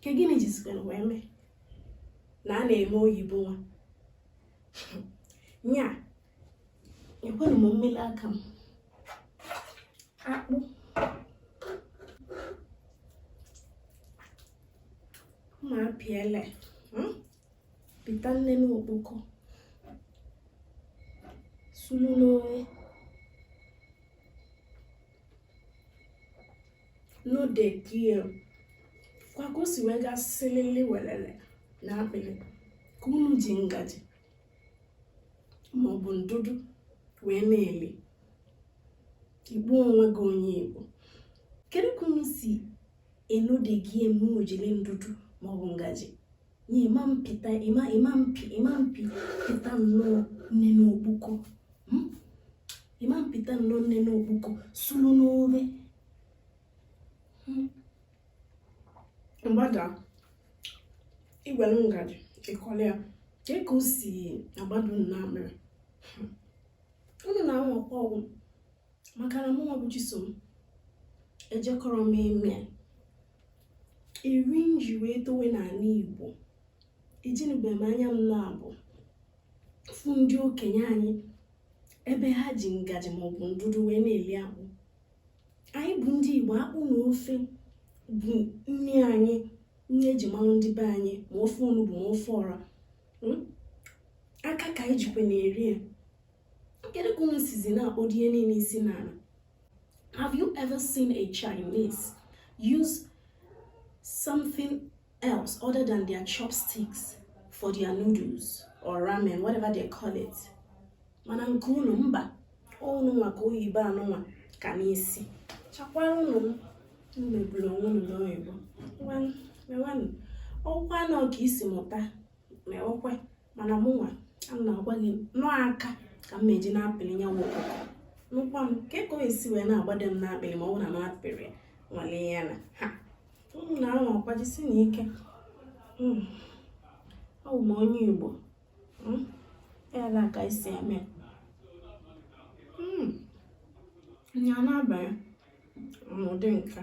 ke gịnị jizikwara wee mee na a na-eme oyibo nwa nya ekwena mụ ewele aka m akpụ ma pịa ele pịta nnene okpoko sulu n'ofe node gie kwa ka o si wee gaa silili welele n'akpịrị ka unu ji ngaji maọbụ ndụdụ wee na-eli akpụ nwa gị onye igbo kedu ka unu si enode gie mgbe unu jiri ndụdụ maọbụ ngaji na ịma mpịta ịma ịma mpi ịma mpi pịta nnọọ nnene okpuko hmm? ịma mpịta nnọọ nnene okpuko sulu n'ofe hmm? gbada igwelu ngaji ịkọla ya ke ka o si agbada nna mere hmm. unu na-anwakwa ọgwụ maka na mụnwa bụ chisom ejekọrọ m ime eri m ji wee towe n'ana igbo ejinubem anya m naabọ fụ ndị okenye anyị ebe ha ji ngaji maọbụ ndụdụ wee na-eli akpụ anyị bụ ndị igbo akpụ na ofe bụ nri anyị nri eji malụ ndị be anyị ma ofe onugbu ma ofe ọra hmm? aka ka anyị jikwa na-eri ya kedu ka unu sizi na-akpọdo ihe niile isi n'ala have you ever seen a Chinese use something else other than their chopsticks for their noodles or ramen whatever they call it mana nke unu mba ọ bụrụ nwa ka oyibo anụnwa ka n'isi chakwara unu megburu onwe unu n'oyibo ọkwa nọ ka i si mụta ma ọkwe mana mụnwa ana m agwa gị na ọ aka ka m na-eji na-apịrị ya nwa ọkụkọ nụkwa m ke ka o si wee na-agbada m n'akpịrị ma ọ bụrụ na m apịrị nwalee ya na ha unu na-anwakwa jisie nụ ike hmm. ọ bụ m onye Igbo hmm. ya na ka i si eme hmm. nya na-abanye n'ụdị nka